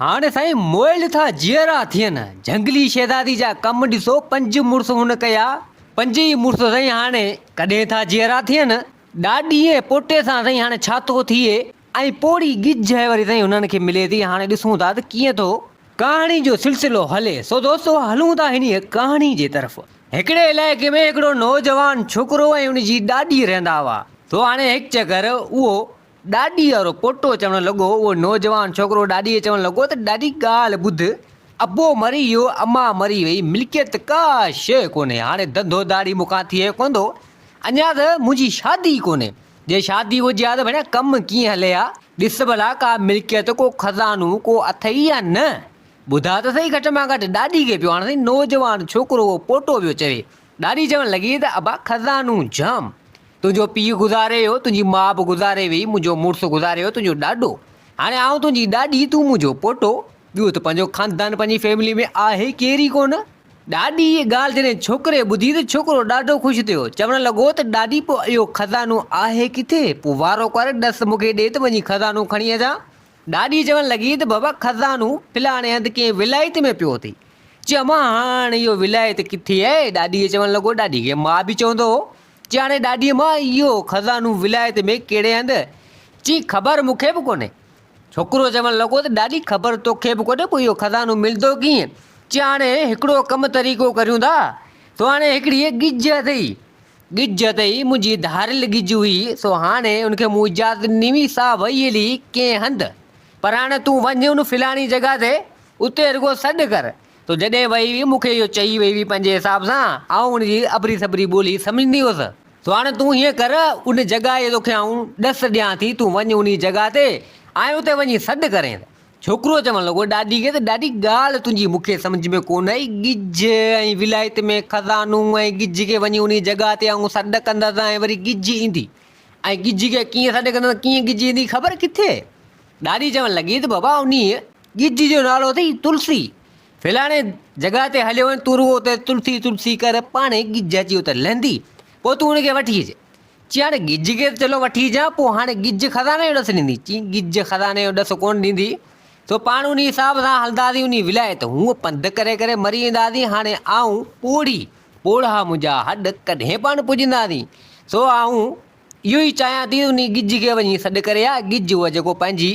هاڻ سائين موئل ٿا جيئرا ٿين. جهنگلي شهزادي جا ڪم ڏسو پنج مڙس هن ڪيا. پنج ئي مڙس سائين هاڻ ڪڏهن ٿا جيئرا ٿين. ڏاڏي ۽ پوٽي سان سائين هاڻ ڇا ٿو ٿئي ۽ پوڙهي ڳجهه وري سائين هنن کي ملي ٿي هاڻ ڏسون ٿا ته ڪيئن ٿو ڪهاڻي جو سلسلو هلي سو دوستو هلون ٿا هنيء ڪهاڻي جي طرف. هڪڙي علائقي ۾ هڪڙو نوجوان ڇوڪرو ۽ ان جي ڏاڏي رهندا هئا سو هاڻ هڪ چڪر اهو. ڏاڏي وارو پوٽو چوڻ لڳو، اهو نوجوان ڇوڪرو ڏاڏيء چوڻ لڳو ته ڏاڏي ڳالهه ٻڌ، ابو مري ويو، اما مري وئي، ملڪيت ڪا شيء ڪونهي، هاڻي ڌنڌو ڌاڙي مون کان ٿئي ڪوندو، اڃا ته منهنجي شادي ئي ڪونهي، جي شادي هجي ها ته ڀيڻ ڪم ڪيئن هلي ها، ڏس ڀلا ڪا ملڪيت، ڪو خزانو ڪو اٿئي يا نه، ٻڌاء ته سهي گهٽ مان گهٽ ڏاڏي کي پيو هاڻ سائين نوجوان ڇوڪرو اهو پوٽو پيو چوي، ڏاڏي چوڻ لڳي ته ابا خزانو جام، تنهنجو پيء گذاري ويو، تنهنجي ماء به گذاري ويئي، منهنجو مڙس گذاري ويو، تنهنجو ڏاڏو، هاڻي آئون تنهنجي ڏاڏي، تون منهنجو پوٽو، ٻيو ته پنهنجو خاندان پنهنجي فيملي ۾ آهي ڪير ئي ڪونه. ڏاڏي جي ڳالهه جڏهن ڇوڪري ٻڌي ته ڇوڪرو ڏاڍو خوش ٿيو، چوڻ لڳو ته ڏاڏي پوء اهو خزانو آهي ڪٿي؟ پوء وارو ڪر ڏس مون کي ڏي ته وڃي خزانو کڻي اچان. ڏاڏي چوڻ لڳي ته بابا خزانو فلاڻي هنڌ ڪنهن ولايت ۾ پيو اٿئي. چيو امان هاڻ اهو ولايت ڪٿي آهي؟ ڏاڏي چوڻ لڳو ڏاڏي کي ماء به چوندو هو ڄاڻي ڏاڏيء مان اهو خزانو ولايت ۾ ڪهڙي هنڌ؟ چي خبر مون کي به ڪونهي. ڇوڪرو چوڻ لڳو ته ڏاڏي خبر تو کي به ڪونهي پوء اهو خزانو ملندو ڪيئن؟ چي هاڻي هڪڙو ڪم طريقو ڪريون ٿا. سهاڻي هڪڙي ڳجهه اٿئي. ڳجهه اٿئي، منهنجي ڌاريل ڳجهه هئي، سو هاڻي ان کي مون اجازت ڏني هئي، سا وئي هلي ڪنهن هنڌ. پر هاڻي تون وڃ ان فلاڻي جڳهه تي، اتي رڳو سڏ ڪر. سو جڏهن وئي هئي، مون کي اهو چئي وئي هئي پنهنجي حساب سان، آئون ان جي ابري سٻري ٻولي سمجهندي هيس. سو هاڻي تون هيئن ڪر، ان جڳهه جي توکي آئون ڏس ڏيان ٿي، تون وڃ انهيء جڳهه تي ۽ اتي وڃي سڏ ڪرين. ڇوڪرو چوڻ لڳو، ڏاڏي کي ته ڏاڏي ڳالهه تنهنجي مون کي سمجهه ۾ ڪونه آئي، ڳجهه ۽ ولايت ۾ خزانو ۽ ڳجهه کي وڃي انهيء جڳهه تي آئون سڏ ڪندس ۽ وري ڳجهه ايندي ۽ ڳجهه کي ڪيئن سڏ ڪندس ڪيئن ڳجهه ايندي خبر ڪٿي؟ ڏاڏي چوڻ لڳي ته بابا انهيء ڳج جو نالو اٿئي تلسي، ڦلاڻي جڳهه تي هليو وڃ، تون رڳو اتي تلسي تلسي ڪر، پاڻهي ڳج اچي اتي لهندي، پوء تون ان کي وٺي اچ. چيائين هاڻي ڳج کي ته چلو وٺي اچان، پوء هاڻي ڳج خزاني جو ڏس ڏيندي؟ چيائين ڳج خزاني جو ڏس ڪونه ڏيندي، سو پاڻ انهيء حساب سان هلنداسين انهيء ولايت، هونء پنڌ ڪري ڪري مري وينداسين، هاڻي آئون پوڙهي، پوڙها منهنجا هڏ ڪڏهن پاڻ پڄنداسين، سو آئون اهو ئي چاهيان ٿي انهي ڳجهه کي وڃي سڏ ڪري آ ڳجهه هو جيڪو پنهنجي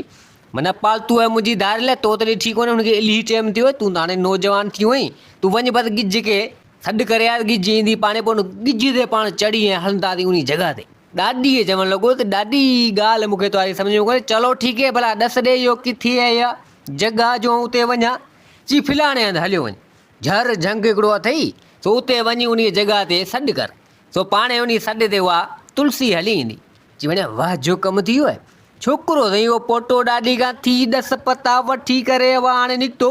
معنيٰ پالتو آهي منهنجي ڌار لاء تو ته ڏٺي ڪونهي هن کي الهي چيم ٿي هوء تون ته هاڻي نوجوان ٿي هئين تون وڃ بس ڳجهه کي سڏ ڪري آ ڳجهه ايندي پاڻهي پوء ان ڳجهه تي پاڻ چڙهي ۽ هلنداسين انهي جڳهه تي ڏاڏي کي چوڻ لڳو ته ڏاڏي هي ڳالهه مون کي توهاري سمجهه ۾ ڪونهي چلو ٺيڪ هي ڀلا ڏس ڏي اهو ڪٿي آهي اها جڳهه جو آئون اتي وڃان چي فلاڻي هنڌ هليو وڃ جهر جهنگ هڪڙو اٿئي سو اتي وڃي انهي جڳهه تي سڏ ڪر سو پاڻهي انهي سڏ تي اها تلسي هلي ايندي. چي وڃان واه جو ڪم ٿي ويو. ڇوڪرو سائين اهو پوٽو ڏاڏي کان ٿي ڏس پتا وٺي ڪري اها هاڻي نڪتو.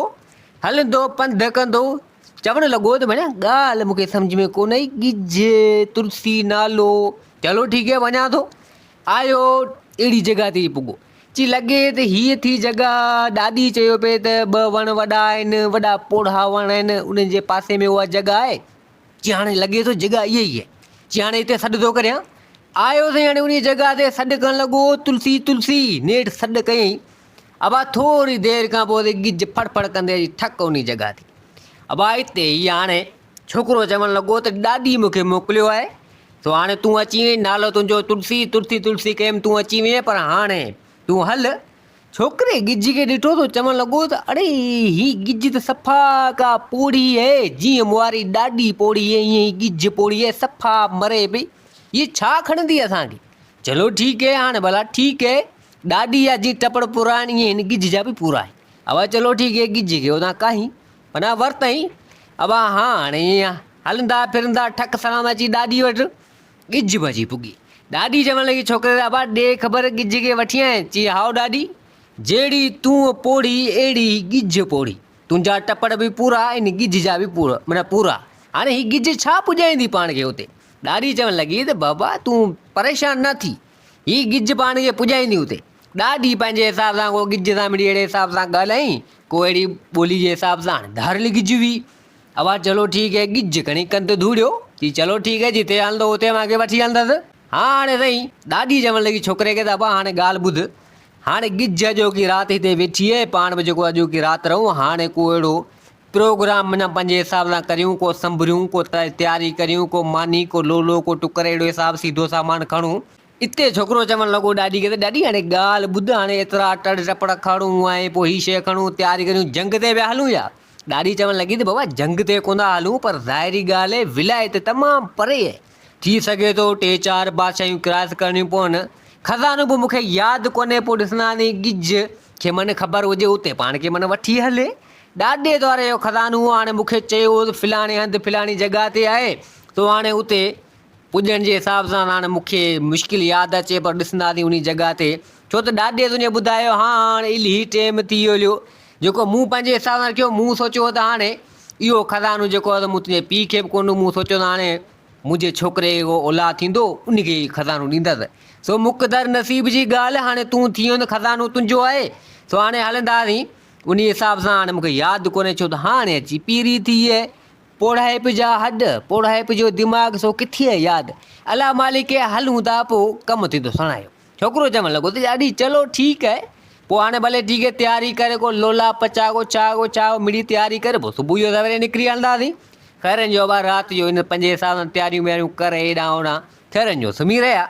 هلندو پنڌ ڪندو. چوڻ لڳو ته وڃان ڳالهه مون کي سمجهه ۾ ڪونه آئي. ڳجهي، تلسي نالو. چلو ٺيڪ هي وڃان ٿو. آيو اهڙي جڳهه تي پڳو. چي لڳي ته هيء ٿي جڳهه. ڏاڏي چيو پئي ته ٻه وڻ وڏا آهن. وڏا پوڙها وڻ آهن. انهن جي پاسي ۾ اها جڳهه آهي. چي هاڻي لڳي ٿو جڳهه اها ئي آهي، چي هاڻي هتي سڏ ٿو ڪريان. آيو سائين هاڻي انهيء جڳهه تي سڏ ڪرڻ لڳو، تلسي! تلسي! نيٺ سڏ ڪيائين. ابا ٿوري دير کان پوء تي ڳجهه ڦڙ ڦڙ ڪندي اچي ٺڪ انهيء جڳهه تي. ابا هتي ئي هاڻي ڇوڪرو چوڻ لڳو ته ڏاڏي مون کي موڪليو آهي، سو هاڻي تون اچي وئين، نالو تنهنجو تلسي، تلسي تلسي ڪيم، تون اچي وئين، پر هاڻي تون هل، ڇوڪري ڳجهي کي ڏٺو ته چوڻ لڳو ته اڙي هي ڳجهي ته صفا ڪا پوڙهي اهي، جيئن مواري ڏاڏي پوڙهي اهي ايئن هي ڳجهه پوڙهي اهي صفا مري پئي، هيء ڇا کڻندي اسان کي، چلو ٺيڪ اهي هاڻ ڀلا ٺيڪ اهي ڏاڏي جا جيئن ٽپڙ پورا آهن ايئن هن ڳجهه جا به پورا آهن، اوهان چلو ٺيڪ اهي ڳجهي کي اوهان ڪاهين پناهه ورتائين، اوهان هاڻ ايئن هلندا ڦرندا ٺڪ سلام اچي ڏاڏي وٽ. ڳجهه ڀڄي پڳي. ڏاڏي چوڻ لڳي، ڇوڪري ري ابا، ڏي خبر ڳجهه ڪي وٺي آئين؟ چي، هائو ڏاڏي، جهڙي تون پوڙهي، اهڙي هي ڳجهه پوڙهي. تنهنجا ٽپڙ به پورا ۽ ڳجهه جا به مڙهه پورا. هاڻي هي ڳجهه ڇا پڄائيندي پاڻ کي اتي؟ ڏاڏي چوڻ لڳي ته بابا، تون پريشان نه ٿي. هي ڳجهه پاڻ کي پڄائيندي اتي. ڏاڏي پنهنجي حساب سان ڪو ڳجهه سان مڙئي اهڙي حساب سان ڳالهيائين، ڪو اهڙي ٻولي جي حساب سان. ڌاريل ڳجهه هئي، اھا چلو ٺيڪ ھي ڳجھھ کڻي ڪن تي ڌوڙيو چي چلو ٺيڪ ھي جتي ھلندو اتي اوھان کي وٺي ھلندس ھا ھاڻي سھي ڏاڏي چوڻ لڳي ڇوڪري کي ته ابا ھاڻي ڳالھھ ٻڌ ھاڻي ڳجھھ اڄوڪي رات ھتي ويٺي ھي پاڻ به جيڪو اڄوڪي رات رھون ھاڻي ڪو اھڙو پروگرام منھن پنھنجي حساب سان ڪريون ڪو سنڀريون ڪو تياري ڪريون ڪو ماني ڪو لولو ڪو ٽڪر اھڙو حساب سيڌو سامان کڻون اتي ڇوڪرو چوڻ لڳو ڏاڏي کي ته ڏاڏي هاڻي ڳالهه ٻڌ هاڻي ايترا ٽڙ ٽپڙ کڻون ۽ پوء هي شيء کڻون تياري ڪريون جنگ تي پيا هلون ڇا؟ ڏاڏي چوڻ لڳي ته بابا جنگ تي ڪونه ٿا هلون پر ظاهري ڳالهه اهي ولايت تمام پري اهي ٿي سگهي ٿو ٽي چار بادشاهيون ڪراس ڪرڻيون پون خزانو به مون کي ياد ڪونهي پوء ڏسنداسين ڳجهه کي من خبر هجي اتي پاڻ کي من وٺي هلي ڏاڏي دواري جو خزانو هو هاڻي مون کي چيو هو ته فلاڻي هنڌ فلاڻي جڳهه تي آهي تو هاڻي اتي پڄڻ جي حساب سان هاڻ مون کي مشڪل ياد اچي پر ڏسنداسين انهي جڳهه تي ڇو ته ڏاڏي تنهنجي ٻڌايو ها هاڻ الهي ٽيم ٿي هليو جيڪو مون پنهنجي حساب سان رکيو مون سوچيو هو ته هاڻي اهو خزانو جيڪو هو ته مون تنهنجي پيء کي به ڪونه ڏئون مون سوچيو ته هاڻي منهنجي ڇوڪري کي ڪو اولاد ٿيندو انهي کي هي خزانو ڏيندس سو مقدر نصيب جي ڳالهه هاڻي تون ٿي ويو ته خزانو تنهنجو آهي سو هاڻي هلنداسين انهي حساب سان هاڻ مون کي ياد ڪونهي ڇو ته هاڻي اچي پيري ٿي پوڙهائپ جا هڏ، پوڙهائپ جو دماغ سو ڪٿيء ياد. الله مالڪ اي هل هوندا پو ڪم ٿيندو سڻايو. ڇوڪرو چوڻ لڳو ته ڏاڏي چلو ٺيڪ اهي پو هاڻي ڀلي ٺيڪ اهي تياري ڪري ڪو لولا پچاء ڪو چاء ڪو چاء مڙئي تياري ڪري پو صبح جو سويري نڪري هلنداسين خيرن جو ابا رات جو هن پنهنجي حساب سان تياريون وياريون ڪري هيڏانهن هوڏانهن خيرن جو سمهي رهيا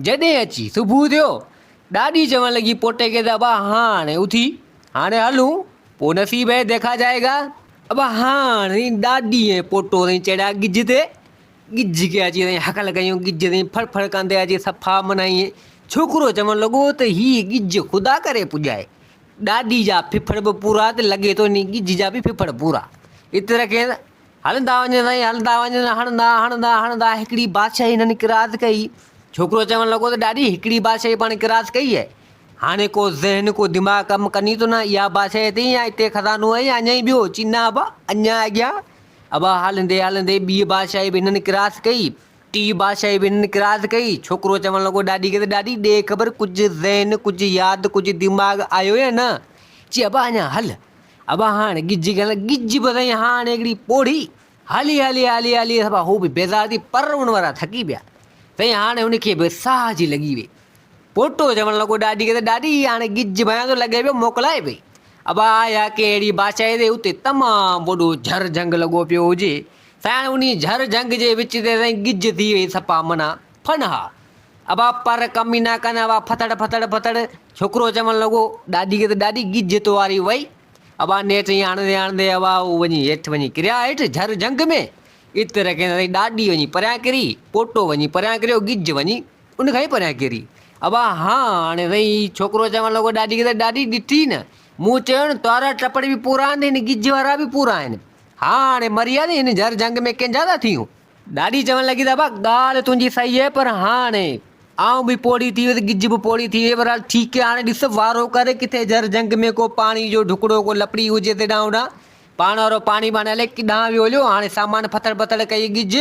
جڏهن اچي صبح ٿيو ڏاڏي چوڻ لڳي پوٽي کي ته ابا هاڻي اٿي هاڻي هلون. پوء نصيب هي ديکا جائي گا. ابا هاڻ سائين ڏاڏي ۽ پوٽو سائين چڙهيا ڳجهه تي. ڳجهه کي اچي سائين هڪل ڪيون. ڳجهه سائين ڦڙ ڦڙ ڪندي اچي صفا منائين. ڇوڪرو چوڻ لڳو ته هي ڳجهه خدا ڪري پڄائي. ڏاڏي جا ڦڦڙ به پورا ته لڳي ٿو انهي ڳجهه جا به ڦڦڙ پورا. ات رکين هلندا وڃن سائين هلندا وڃن هڻندا هڻندا هڻندا هڪڙي بادشاهي هنن ڪراس ڪئي. ڇوڪرو چوڻ لڳو ته ڏاڏي هڪڙي بادشاهي پاڻ ڪراس ڪئي آهي. هاڻي ڪو ذهن ڪو دماغ ڪم ڪني ٿو نه اها بادشاهي اٿئي يا اتي خزانو آهي يا اڃا ئي ٻيو چي نه ابا اڃا اڳيان ابا هلندي هلندي ٻي بادشاهي به هنن ڪراس ڪئي ٽي بادشاهي به هنن ڪراس ڪئي ڇوڪرو چوڻ لڳو ڏاڏي کي ته ڏاڏي ڏي خبر ڪجهه ذهن ڪجهه ياد ڪجهه دماغ آيو يا نه چي ابا اڃا هل ابا هاڻ ڳجهه کي هلندي ڳجهه به اٿئي هاڻ هڪڙي پوڙهي هلي هلي هلي هلي سڀا هو به بيزار ٿي پر ان وارا ٿڪي پيا سائين هاڻي ان کي به ساهه جي لڳي وئي پوٽو چوڻ لڳو ڏاڏي کي ته ڏاڏي هي هاڻي ڳج ڀيان ٿو لڳي پيو موڪلائي پئي ابا آيا ڪنهن اهڙي بادشاهي تي اتي تمام وڏو جهر جهنگ لڳو پيو هجي سائين هاڻي انهي جهر جهنگ جي وچ تي سائين ڳج ٿي وئي سپا منا ڦن ها ابا پر ڪم ئي نه ڪن ابا ڦٿڙ ڦٿڙ ڦٿڙ ڇوڪرو چوڻ لڳو ڏاڏي کي ته ڏاڏي ڳج تو واري وئي ابا نيٺ ائين آڻندي آڻندي ابا هو وڃي هيٺ وڃي ڪريا هيٺ جھر جھنگ ۾ اتي رکين سائين ڏاڏي وڃي پريان ڪري پوٽو وڃي پريان ڪريو ڳجھ وڃي ان کان ئي پريان ڪري ابا ها هاڻي سائين هي ڇوڪرو چوڻ لڳو ڏاڏي کي ته ڏاڏي ڏٺي نه مون چيو نه تارا ٽپڙ به پورا آهن ته هن ڳجھ وارا به پورا آهن ها هاڻي مري هيا ته هن جھر جھنگ ۾ ڪنھن جا ٿا ٿيون ڏاڏي چوڻ لڳي ته ابا ڳالهه تنهنجي صحيح آهي پر هاڻ آئون به پوڙهي ٿي ويس ڳج به پوڙهي ٿي وئي بهرحال ٺيڪ آهي هاڻي ڏس وارو ڪري ڪٿي جر جهنگ ۾ ڪو پاڻي جو ڍڪڙو ڪو لپڙي هجي ته ڏانهن ڏانهن پاڻ وارو پاڻي ٻاڻي الائي ڪيڏانهن ويو هليو هاڻي سامان ڦٿڙ ڀٿڙ ڪئي ڳج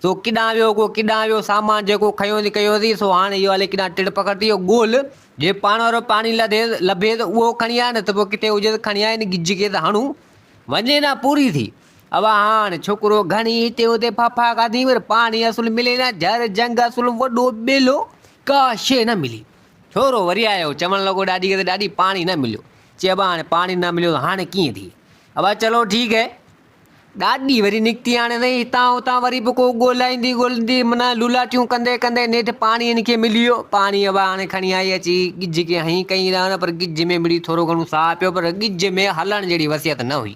سو ڪيڏانهن ويو ڪو ڪيڏانهن ويو سامان جيڪو کنيوسي ڪيوسي سو هاڻي اهو الائي ڪيڏانهن ٽڙ پکڙ ٿي ويو ڳول جي پاڻ وارو پاڻي لڌي لڀي ته اهو کڻي آ نه ته پوء ڪٿي هجي ته کڻي آ هن ڳج کي ته هڻون وڃي نه پوري ٿي اوا هاڻ ڇوڪرو گهڻي هتي هتي ڦاڦا کاڌي پر پاڻي اصل ملي نه جهر جهنگ اصل وڏو ٻيلو ڪا شي نه ملي ڇورو وري آيو چوڻ لڳو ڏاڏي کي ته ڏاڏي پاڻي نه مليو چي ابا هاڻي پاڻي نه مليو هاڻي ڪيئن ٿئي ابا چلو ٺيڪ هي ڏاڏي وري نڪتي هاڻي سائين هتان هتان وري به ڪو ڳولائيندي ڳولندي من لولاٽيون ڪندي ڪندي نيٺ پاڻي هن کي ملي ويو پاڻي ابا هاڻي کڻي آئي اچي ڳجهه کي هنئي ڪئي رهن پر ڳجهه ۾ مڙئي ٿورو گهڻو ساهه پيو پر ڳجهه ۾ هلڻ جهڙي وصيت نه هئي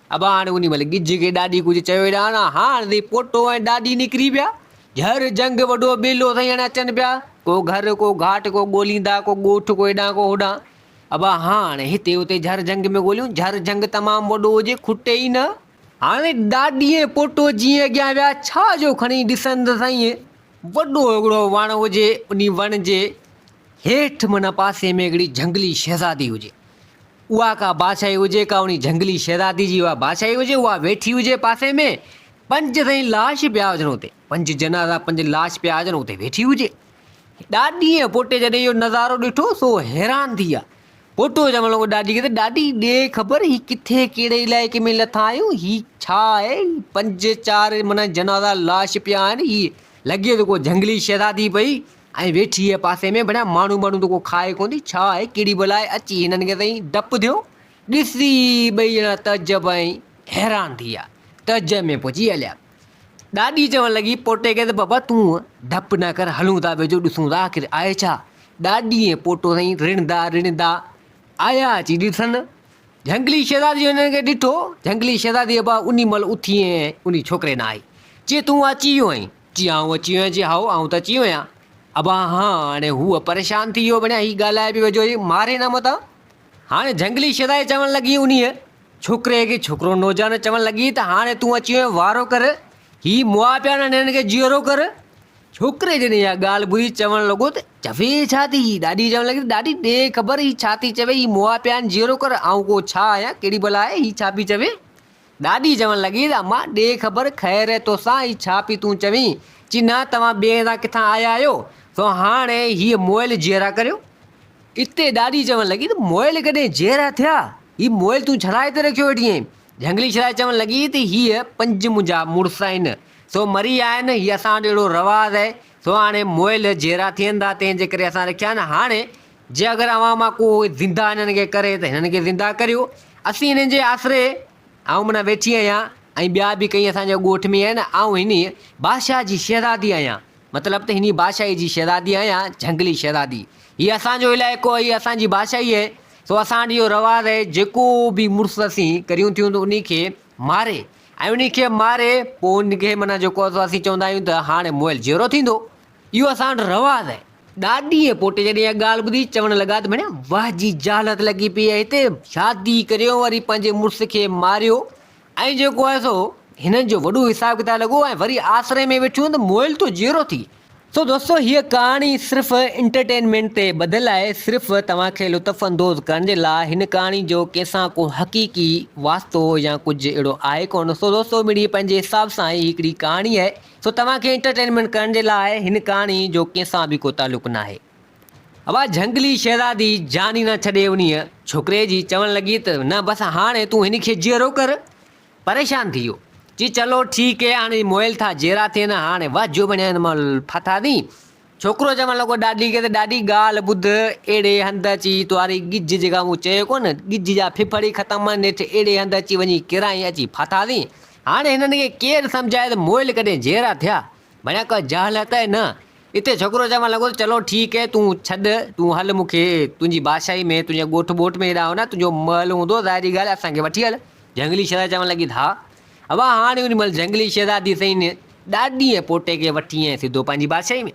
ابا هاڻي انهي مهل ڳجهه کي ڏاڏي ڪجهه چيو ئي ناهن ها. هاڻ ذي پوٽو ۽ ڏاڏي نڪري ويا. جهر جهنگ وڏو ٻيلو سائين هاڻي اچن پيا. ڪو گهر ڪو گهاٽ ڪو ڳوليندا ڪو ڳوٺ ڪو هيڏانهن ڪو هوڏانهن. ابا هاڻ هتي هتي جهر جهنگ ۾ ڳوليون. جهر جهنگ تمام وڏو هجي کٽي ئي نه. هاڻي ڏاڏي ۽ پوٽو جيئن اڳيان ويا ڇا جو کڻي ڏسن ته سائين وڏو هڪڙو وڻ هجي انهي وڻ جي هيٺ معنيٰ پاسي ۾ هڪڙي جهنگلي شهزادي هجي. اها ڪا بادشاهي هجي، ڪا انهي جهنگلي شهزادي جي اها بادشاهي هجي، اها ويٺي هجي پاسي ۾، پنج سائين لاش پيا هجن اتي، پنج جنازا، پنج لاش پيا هجن اتي ويٺي هجي. ڏاڏي ۽ پوٽي جڏهن اهو نظارو ڏٺو، سو حيران ٿي ويا. پوٽو چوڻ لڳو ڏاڏي کي ته ڏاڏي ڏي خبر هي ڪٿي ڪهڙي علائقي ۾ لٿا آهيون، هي ڇا آهي، هي پنج چار معنيٰ جنازا لاش پيا آهن، هي لڳي ته ڪو جهنگلي شهزادي پئي ائين ويٺي هيء پاسي ۾ بنيا ماڻهو ماڻهو ته ڪو کائي ڪونه ٿي، ڇا آهي ڪهڙي بلا آهي، اچي هنن کي سائين ڊپ ٿيو. ڏسي ٻئي ڄڻا تعجب ۽ حيران ٿي ويا. تعجب ۾ پئجي هليا. ڏاڏي چوڻ لڳي پوٽي کي ته بابا تون ڊپ نه ڪر هلون ٿا ويجهو ڏسون ٿا آخر آهي ڇا. ڏاڏي ۽ پوٽو سائين رڙندا رڙندا آيا اچي ڏسن. جهنگلي شهزادي جو هنن کي ڏٺو. جهنگلي شهزادي ابا انهي مهل اٿي ۽ انهي ڇوڪري ڏانهن آئي. چي تون اچي ويو آهين. جي هائون اچي ويان جي هائو آئون ته اچي ويان ابا هان هاڻي هوء پريشان ٿي اهو ڀڻيا هي ڳالهائي به وجهو هي ماري نه متان هاڻي جهنگلي شيدائي چوڻ لڳي انهيء ڇوڪري کي ڇوڪرو نوجوان چوڻ لڳي ته هاڻي تون اچي ويان وارو ڪر هي مئا پيا نه ننهن کي جيئرو ڪر ڇوڪري جڏهن اها ڳالهه ٻڌي چوڻ لڳو ته چوي ڇا ٿي هي ڏاڏي چوڻ لڳي ته ڏاڏي ڏي خبر هي ڇا ٿي چوي هي مئا پيا نه جيئرو ڪر آئون ڪو ڇا آهيان ڪهڙي بلا آهي هي ڇا پي چوي ڏاڏي چوڻ لڳي ته امان ڏي خبر خير توسان هي ڇا پي تون چوين؟ چي نه توهان ٻئي هنڌان ڪٿان آيا آهيو سو هاڻي هيء موئل جيئرا ڪريو. اتي ڏاڏي چوڻ لڳي ته موئل ڪڏهن جيئرا ٿيا؟ هي موئل تون ڇڙائي هتي رکيو ويٺي آهين؟ جهنگلي شرائي چوڻ لڳي ته هي پنج منهنجا مڙس آهن سو مري ويا آهن هي اسان وٽ اهڙو رواز آهي سو هاڻي موئل جيئرا ٿين ٿا تنهن جي ڪري اسان رکيا آهن هاڻي جي اگر اوهان مان ڪو هئي زنده هنن کي ڪري ته هنن کي زنده ڪريو اسين هنن جي آسري آئون منا ويٺي آهيان ۽ ٻيا به ڪئين اسان جي ڳوٺ ۾ آهن آئون هني بادشاهه جي شهزادي آهيان مطلب ته هني بادشاهي جي شهزادي آهيان جهنگلي شهزادي هي اسان جو علائقو آهي اسان جي بادشاهي آهي سو اسان وٽ اهو رواز آهي جيڪو به مڙس اسين ڪريون ٿيون ته انهي کي ماري ۽ انهي کي ماري پوء ان کي منا جيڪو اسين چوندا آهيون ته هاڻي مئل جيئرو ٿيندو اهو اسان وٽ رواز آهي. ڏاڏي ۽ پوٽي جڏهن اها ڳالهه ٻڌي، چوڻ لڳا ته ڀيڻيا واهه جي جهالت لڳي پيئي آهي هتي، شادي ڪريو وري پنهنجي مڙس کي ماريو ۽ جيڪو آهي سو هنن جو وڏو حساب ڪتاب لڳو ۽ وري آسري ۾ ويٺيون ته مئل تو جيئرو ٿي. سو دوستو هيء ڪهاڻي صرف انٽرٽينمينٽ تي ٻڌل آهي، صرف توهان کي لطف اندوز ڪرڻ جي لاء، هن ڪهاڻي جو ڪنهن سان ڪو حقيقي واسطو يا ڪجهه اهڙو آهي ڪونه، سو دوستو مڙيئي پنهنجي حساب سان هي هڪڙي ڪهاڻي آهي. سو توهان کي انٽرٽينمينٽ ڪرڻ جي لاء هن ڪهاڻي جو ڪنهن سان به ڪو تعلق ناهي. اها جهنگلي شهزادي جان ئي نه ڇڏي انهيء ڇوڪري جي چوڻ لڳي ته نه بس هاڻي تون هن کي جيئرو ڪر. پريشان ٿي ويو. چي چلو ٺيڪ هي هاڻي مئل ٿا جيئرا ٿين هاڻي واهه جو بڻيا هن مئل ڦاٿا ٿي. ڇوڪرو چوڻ لڳو ڏاڏي کي ته ڏاڏي ڳالهه ٻڌ اهڙي هنڌ اچي توهاري ڳجهه جيڪا مون چيو ڪو نه ڳجهه جا ڦڦڙ ئي ختم آهن نيٺ اهڙي هنڌ اچي وڃي ڪيرائين اچي ڦاٿا ٿي. هاڻي هنن کي ڪير سمجهائي ته مئل ڪڏهن جيئرا ٿيا. بنيا ڪا جهل هتا هي نه. اتي ڇوڪرو چوڻ لڳو ته چلو ٺيڪ هي تون ڇڏ تون هل مون کي تنهنجي بادشاهي ۾ تنهنجي ڳوٺ ٻوٽ ۾ هيڏانهن نه تنهنجو مئل هوندو ظاهري ڳالهه اسان کي وٺي هل. جهنگلي شهزادي چوڻ لڳي ته ها ابا هاڻي ان مهل جهنگلي شهزادي سئين ڏاڏي ۽ پوٽي کي وٺي ائين سڌو پنهنجي بادشاهي ۾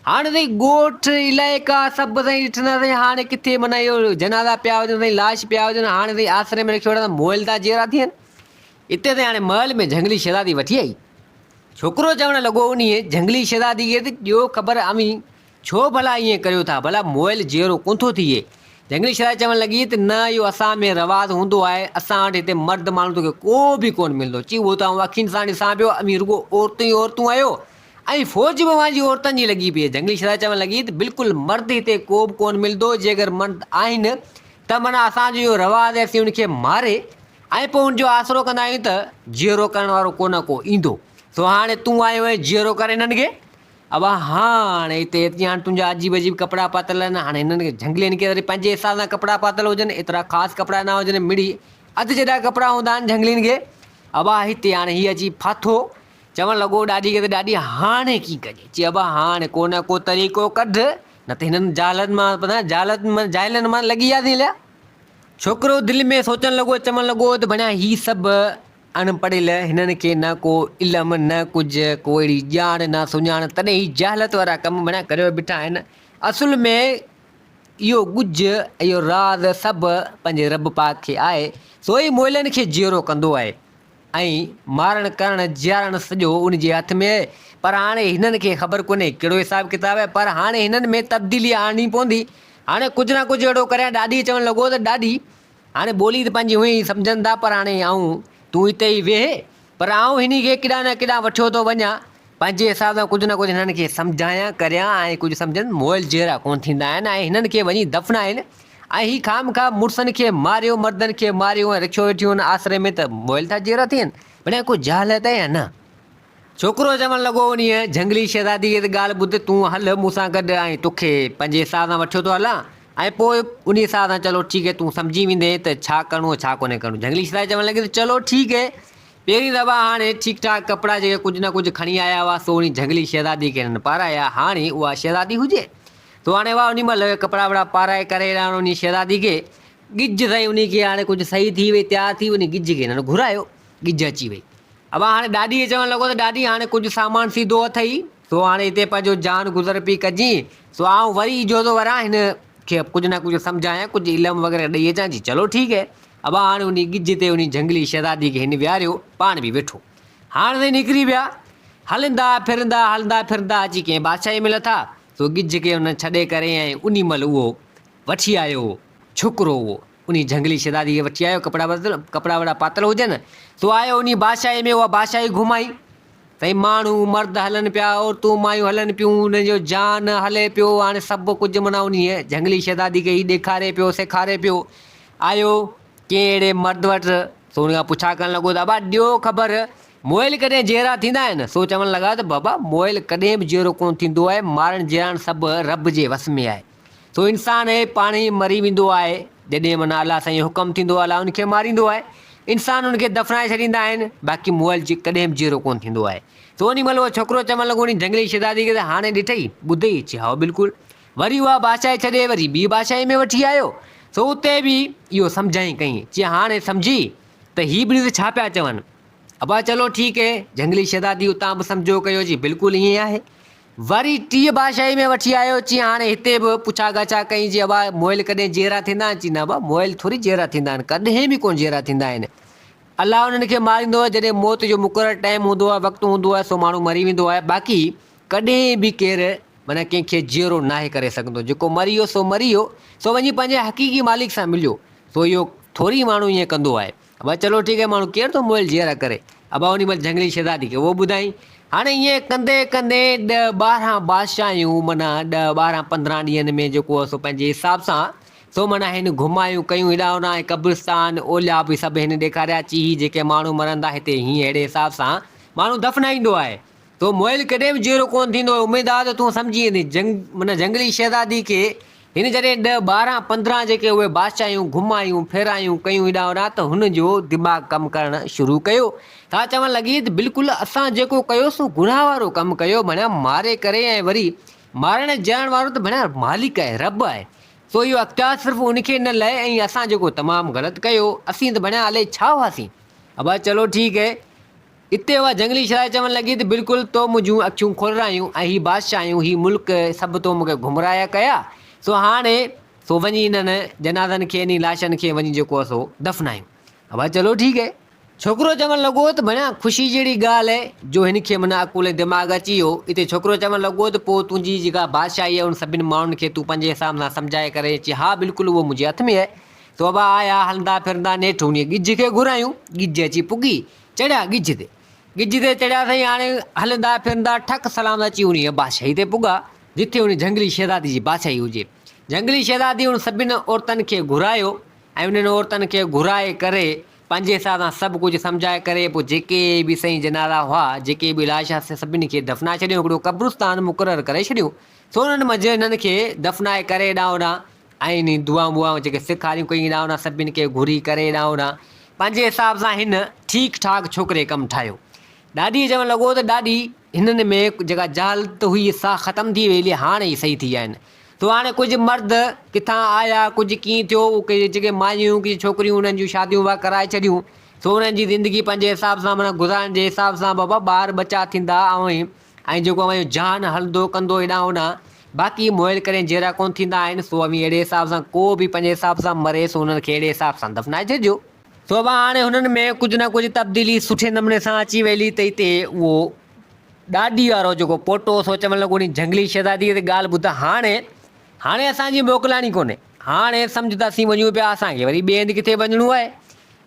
هاڻي سائين ڳوٺ علائقا سڀ سائين ڏٺندا سائين هاڻي ڪٿي معنيٰ اهي جنازا پيا هجن سائين لاش پيا هجن هاڻي سائين آسري ۾ رکي وٺندا مئل تان جيئرا ٿين. اتي تائين هاڻي محل ۾ جهنگلي شهزادي وٺي آئي. ڇوڪرو چوڻ لڳو انهيء جهنگلي شهزادي کي ته ڏيو خبر اوهين ڇو ڀلا ائين ڪريو ٿا، ڀلا موئل جيئرو ڪونه ٿو ٿئي. جهنگلي شهزادي چوڻ لڳي ته نه اهو اسان ۾ رواز هوندو آهي، اسان وٽ هتي مرد ماڻهو توکي ڪو به ڪونه ملندو، چي اهو ته آئون اکين سان ڏسان پيو اوهين رڳو عورتون ئي عورتون آهيو ۽ فوج به اوهان جي عورتن جي لڳي پئي آهي. جهنگلي شهزادي چوڻ لڳي ته بلڪل مرد هتي ڪو به ڪونه ملندو، جيڪر مرد آهن ته معنيٰ اسان جو اهو رواز آهي اسين ان کي ماري ۽ پوء ان جو آسرو ڪندا آهيون ته جيئرو ڪرڻ وارو ڪو نه ڪو ايندو. سو هاڻي تون آيو آهين جيئرو ڪر هنن کي. ابا هاڻ هتي اچي هاڻ تنهنجا عجيب عجيب ڪپڙا پاتل آهن هاڻ هنن کي جهنگلي هن کي وري پنهنجي حساب سان ڪپڙا پاتل هجن ايترا خاص ڪپڙا نه هجن مڙئي اڌ جيڏا ڪپڙا هوندا آهن جهنگلين کي. ابا هتي هاڻ هي اچي ڦاٿو. چوڻ لڳو ڏاڏي کي ته ڏاڏي هاڻي ڪي ڪجي. چي ابا هاڻ ڪو نه ڪو طريقو ڪڍ نه ته هنن جاهلن مان جاهلن مان لڳي وياسين اليا. ڇوڪرو دل ۾ سوچڻ لڳو ۽ چوڻ لڳو ته بنيا هي سڀ اڻ پڙهيل، هنن کي نه ڪو علم، نه ڪجهه ڪو اهڙي ڄاڻ نه سڃاڻ، تڏهن هي جهالت وارا ڪم بنيا ڪريو بيٺا آهن. اصل ۾ اهو ڳجهه ۽ اهو راز سڀ پنهنجي رب پاڪ کي آهي، سو ئي مئلن کي جيئرو ڪندو آهي. ۽ مارڻ ڪرڻ جيارڻ سڄو ان جي هٿ ۾ آهي پر هاڻي هنن کي خبر ڪونهي ڪهڙو حساب ڪتاب آهي پر هاڻي هنن ۾ تبديلي آڻڻي پوندي هاڻي ڪجهه نه ڪجهه اهڙو ڪريان ڏاڏي چوڻ لڳو ته ڏاڏي هاڻي ٻولي ته پنهنجي هونئن ئي سمجهن ٿا پر هاڻي آئون تون هتي ئي ويهه پر آئون هني کي ڪيڏانهن نه ڪيڏانهن وٺيو ٿو وڃان پنهنجي حساب سان ڪجهه نه ڪجهه هنن کي سمجهايان ڪريان ۽ ڪجهه سمجهن مئل جهيڙا ڪونه ٿيندا آهن ۽ هنن کي وڃي دفنائين ۽ هي خامخواه مڙسن کي ماريو مردن کي ماريو ۽ رکيو ويٺيون ان آسري ۾ ته مئل ٿا جيئرا ٿين بنيا ڪو جهل هتئي يا نه ڇوڪرو چوڻ لڳو انهيء جهنگلي شهزادي جي ته ڳالهه ٻڌ تون هل مون سان گڏ ۽ توکي پنهنجي حساب سان وٺيو ٿو هلان ۽ پوء انهيء حساب سان چلو ٺيڪ هي تون سمجهي ويندين ته ڇا ڪرڻو ۽ ڇا ڪونهي ڪرڻو جهنگلي شهزادي چوڻ لڳي ته چلو ٺيڪ هي پهرين دفعا هاڻي ٺيڪ ٺاڪ ڪپڙا جيڪي ڪجهه نه ڪجهه کڻي آيا هئا سو انهي جهنگلي شهزادي کي هنن پارايا هاڻي اها شهزادي هجي تو هاڻي واء انهي مهل ڪپڙا وپڙا پارائي ڪري هاڻي انهي شهزادي کي ڳجهه سائين انهي کي هاڻي ڪجهه صحيح ٿي وئي تيار ٿي انهي ڳجهه کي هن گهرايو ڳجهه اچي وئي اوهان هاڻي ڏاڏي کي چوڻ لڳو ته ڏاڏي هاڻي ڪجهه سامان سيڌو اٿئي سو هاڻي هتي پنهنجو جان گذر پئي ڪجين سو آئون وري اجهو ٿو وران هن کي ڪجهه نه ڪجهه سمجهايان ڪجهه علم وغيره ڏئي اچان جي چلو ٺيڪ هي اوهان هاڻي انهي ڳجهه تي انهي جهنگلي شهزادي کي هن ويهاريو پاڻ به ويٺو هاڻ سائين نڪري ويا هلندا ڦرندا هلندا ڦرندا اچي ڪنهن بادشاهي ۾ لٿا سو ڳجهه کي ان ڇڏي ڪري ۽ انهي مهل اهو وٺي آيو هو ڇوڪرو اهو انهي جهنگلي شهزادي کي وٺي آيو ڪپڙا وتل ڪپڙا وڙا پاتل هجن سو آيو انهي بادشاهي ۾ اها بادشاهي گهمائي سائين ماڻهو مرد هلن پيا عورتون مايون هلن پيون انهن جو جان هلي پيو هاڻي سڀ ڪجهه معنيٰ انهي جهنگلي شهزادي کي هي ڏيکاري پيو سيکاري پيو آيو ڪنهن اهڙي مرد وٽ سو ان کان پڇا ڪرڻ لڳو ته ابا ڏيو خبر موئل ڪڏهن جيئرا ٿيندا آهن؟ سو چوڻ لڳا ته بابا موئل ڪڏهن به جيئرو ڪونه ٿيندو آهي، مارڻ جيئرائڻ سڀ رب جي وس ۾ آهي. سو انسان هي پاڻ ئي مري ويندو آهي، جڏهن معنيٰ الله سائين جو حڪم ٿيندو الله ان کي ماريندو آهي. انسان ان کي دفنائي ڇڏيندا آهن، باقي موئل ڪڏهن به جيئرو ڪونه ٿيندو آهي. سو انهي مهل اهو ڇوڪرو چوڻ لڳو انهي جهنگلي شهزادي کي ته هاڻي ڏٺئي، ٻڌئي؟ چي هائو بلڪل. وري اها بادشاهي ڇڏي وري ٻي بادشاهي ۾ وٺي آيو، سو اتي به اهو سمجهائين ڪئين، چي هاڻي سمجهي ته هي ٻنهي ته ڇا پيا چون؟ ابا چلو ٺيڪ هي، جهنگلي شهزادي اتان به سمجهو ڪيو جي بلڪل ائين آهي. وري ٽيء بادشاهي ۾ وٺي آيو، چي هاڻي هتي به پڇا ڳاڇا ڪئين جي ابا مئل ڪڏهن جيئرا ٿيندا آهن، چي نه ابا مئل ٿوري جيئرا ٿيندا آهن، ڪڏهن به ڪونه جيئرا ٿيندا آهن، الله انهن کي ماريندو آهي، جڏهن موت جو مقرر ٽائيم هوندو آهي، وقت هوندو آهي، سو ماڻهو مري ويندو آهي، باقي ڪڏهن به ڪير معنيٰ ڪنهن کي جيئرو ناهي ڪري سگهندو، جيڪو مري ويو سو مري ويو، سو وڃي پنهنجي حقيقي مالڪ سان مليو، سو اهو ٿوري ماڻهو ائين ڪندو آهي. ابا چلو ٺيڪ آهي ماڻهو ڪير ٿو موئل جيئرا ڪري. ابا انهي مهل جهنگلي شهزادي کي اهو ٻڌائين. هاڻي ائين ڪندي ڪندي ڏهه ٻارهن بادشاهيون معنيٰ ڏهه ٻارهن پندرهن ڏينهن ۾ جيڪو سو پنهنجي حساب سان سو معنيٰ هن گهمايون ڪيون هيڏانهن هوڏانهن ۽ قبرستان اولياء به سڀ هن ڏيکاريا چي هي جيڪي ماڻهو مرن ٿا هتي هيئن ههڙي حساب سان ماڻهو دفنائيندو آهي. تو مئل ڪڏهن به جيئرو ڪونه ٿيندو، اميد آ ته تون سمجهي ويندين. جنگ معنيٰ جنگلي شهزادي کي هن جڏهن ڏهه ٻارهن پندرهن جيڪي اهي بادشاهيون گهمايون ڦيرايون ڪيون هيڏانهن هوڏانهن ته هن جو دماغ ڪم ڪرڻ شروع ڪيو. سا چوڻ لڳي ته بلڪل اسان جيڪو ڪيو سو گناهه وارو ڪم ڪيو معنيٰ ماري ڪري ۽ وري مارڻ جيئرڻ وارو ته معنيٰ مالڪ آهي رب آهي سو اهو اختيار صرف ان کي نه لهي ۽ اسان جيڪو تمام غلط ڪيو اسين ته معنيٰ الائي ڇا هئاسين. ابا چلو ٺيڪ هي. اتي اها جهنگلي شرائي چوڻ لڳي ته بلڪل تو منهنجون اکيون کولرايون ۽ هي بادشاهيون، هي ملڪ سڀ تو مون کي گمراهه ڪيا، سو هاڻ سو وڃي انهن جنازن کي انهي لاشن کي وڃي جيڪو آهي سو دفنايون. ابا چلو ٺيڪ آهي. ڇوڪرو چوڻ لڳو ته ڀڻيا خوشي جهڙي ڳالهه آهي جو هن کي من عقول ۽ دماغ اچي ويو. اتي ڇوڪرو چوڻ لڳو ته پوء تنهنجي جيڪا بادشاهي آهي ان سڀن ماڻهن کي تون پنهنجي حساب سان سمجهائي ڪري اچ ها بلڪل اهو منهنجي هٿ ۾ آهي. سو ابا آيا هلندا ڦرندا نيٺ انهي ڳجهه کي گهرايون، ڳجهه اچي پڳي چڙهيا ڳجهه تي. ڳجهه تي چڙهيا سائين هاڻي هلندا ڦرندا ٺڪ سلام اچي انهيء بادشاهي تي پڳا، جتي انهيء جهنگلي شهزادي جي بادشاهي هجي. جهنگلي شهزادي انهن سڀني عورتن کي گهرايو ۽ انهن عورتن کي گهرائي ڪري پنهنجي حساب سان سڀ ڪجهه سمجهائي ڪري پوء جيڪي به سائين جنازا هئا، جيڪي به لاش هئا سي سڀني کي دفنائي ڇڏيو، هڪڙو قبرستان مقرر ڪري ڇڏيو. سو انهن منجهه انهن کي دفنائي ڪري هيڏانهن هوڏانهن ۽ انهي دعائون ٻعائون جيڪي سيکاريون ڪيئي ڏانهن هن سڀني کي گهري ڪري ڏانهن هن پنهنجي حساب سان هن ٺيڪ ٺاڪ ڇوڪري ڪم ٺاهيو. ڏاڏي چوڻ لڳو ته ڏاڏي هنن ۾ جيڪا جهالت هئي سا ختم ٿي ويئي هاڻ هي صحيح ٿي آهن سو هاڻي ڪجهه مرد ڪٿان آيا ڪجهه ڪيئي ٿيو ڪجهه جيڪي مايون هيون ڪجهه ڇوڪريون انهن جون شاديون واه ڪرائي ڇڏيون سو انهن جي زندگي پنهنجي حساب سان معنيٰ گذارڻ جي حساب سان بابا ٻار ٻچا ٿيندا ۽ ۽ جيڪو اوهان جو جهان هلندو ڪندو هيڏانهن هوڏانهن، باقي موئل ڪرين جيئرا ڪونه ٿيندا آهن، سو اوهين اهڙي حساب سان ڪو به پنهنجي حساب سان مري، سو انهن کي اهڙي حساب سان دفنائي ڇڏجو. سو به هاڻي هنن ۾ ڪجهه نه ڪجهه تبديلي سٺي نموني سان اچي ويلي ته اتي اهو ڏاڏي وارو جيڪو پوٽو هو، سو چوڻ لڳو انهي جهنگلي شهزاديء تي ڳالهه ٻڌ هاڻي، هاڻي اسان جي موڪلائڻي ڪونهي، هاڻي سمجهه ته اسين وڃون پيا، اسان کي وري ٻئي هنڌ ڪٿي وڃڻو آهي،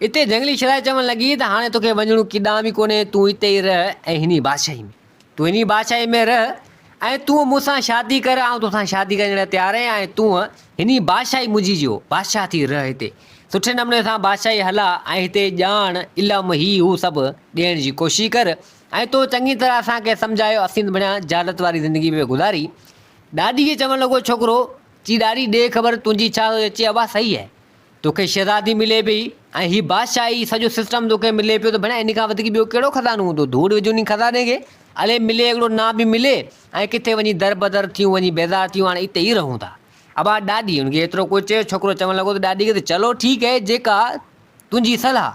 اتي جهنگلي شرائي چوڻ لڳي ته هاڻي توکي وڃڻو ڪيڏانهن به ڪونهي، تون اتي ئي رهه ۽ هن ئي بادشاهي ۾، تون هن ئي بادشاهي ۾ رهه ۽ تون مون سان شادي ڪر، آئون توسان شادي ڪرڻ لاء تيار آهيان ۽ تون هن ئي بادشاهي منهنجي جو بادشاهه ٿي رهه هتي سٺي نموني سان بادشاهي هلا ۽ هتي ڄاڻ، علم، هي هو سڀ ڏيڻ جي ڪوشش ڪر ۽ تو چڱي طرح اسان کي سمجهايو اسين ته بڻيا جهالت واري زندگي پئي گذاري. ڏاڏي کي چوڻ لڳو ڇوڪرو چي ڏاڏي ڏي خبر تنهنجي ڇا سوچ اچي اها صحيح آهي. توکي شهزادي ملي پئي ۽ هي بادشاهي سڄو سسٽم توکي ملي پيو ته ڀيڻا ان کان وڌيڪ ٻيو ڪهڙو خزانو هوندو ڌوڙ وجهه ان خزاني کي الي ملي هڪڙو نا به ملي ۽ ڪٿي وڃي در بدر ٿيون وڃي بيزار ٿيون هاڻي اتي ئي رهون ٿا ابا ڏاڏي ان کي ايترو ڪو چيو ڇوڪرو چوڻ لڳو ته ڏاڏي کي ته چلو ٺيڪ هي جيڪا تنهنجي صلاح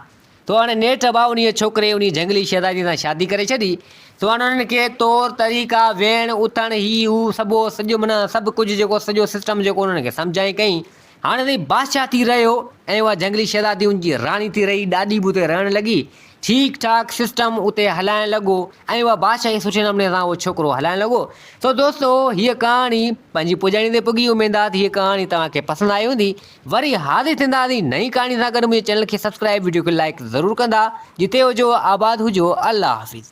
سو هاڻي نيٺ ابا انهيء ڇوڪري انهيء جهنگلي شهزادي سان شادي ڪري ڇڏي سو هاڻي انهن کي طور طريقا ويهڻ اٿڻ هي هو سڀو سڄو معنيٰ سڀ ڪجهه جيڪو سڄو سسٽم جيڪو انهن کي سمجهائين ڪئين هاڻي تائين بادشاهه ٿي رهيو ۽ اها جهنگلي شهزادي ان جي راڻي ٿي رهي، ڏاڏي به اتي رهڻ لڳي، ٺيڪ ٺاڪ سسٽم اتي هلائڻ لڳو ۽ اها بادشاهي سٺي نموني سان اهو ڇوڪرو هلائڻ لڳو، سو دوستو هيء ڪهاڻي پنهنجي پڄاڻي تي پڳي، اميد آهي ته هيء ڪهاڻي توهان کي پسند آئي هوندي، وري حاضر ٿينداسين نئين ڪهاڻي سان گڏ، منهنجي چينل کي سبسڪرائيب وڊيو کي لائيڪ ضرور ڪندا، جتي هجو آباد هجو الله حافظ.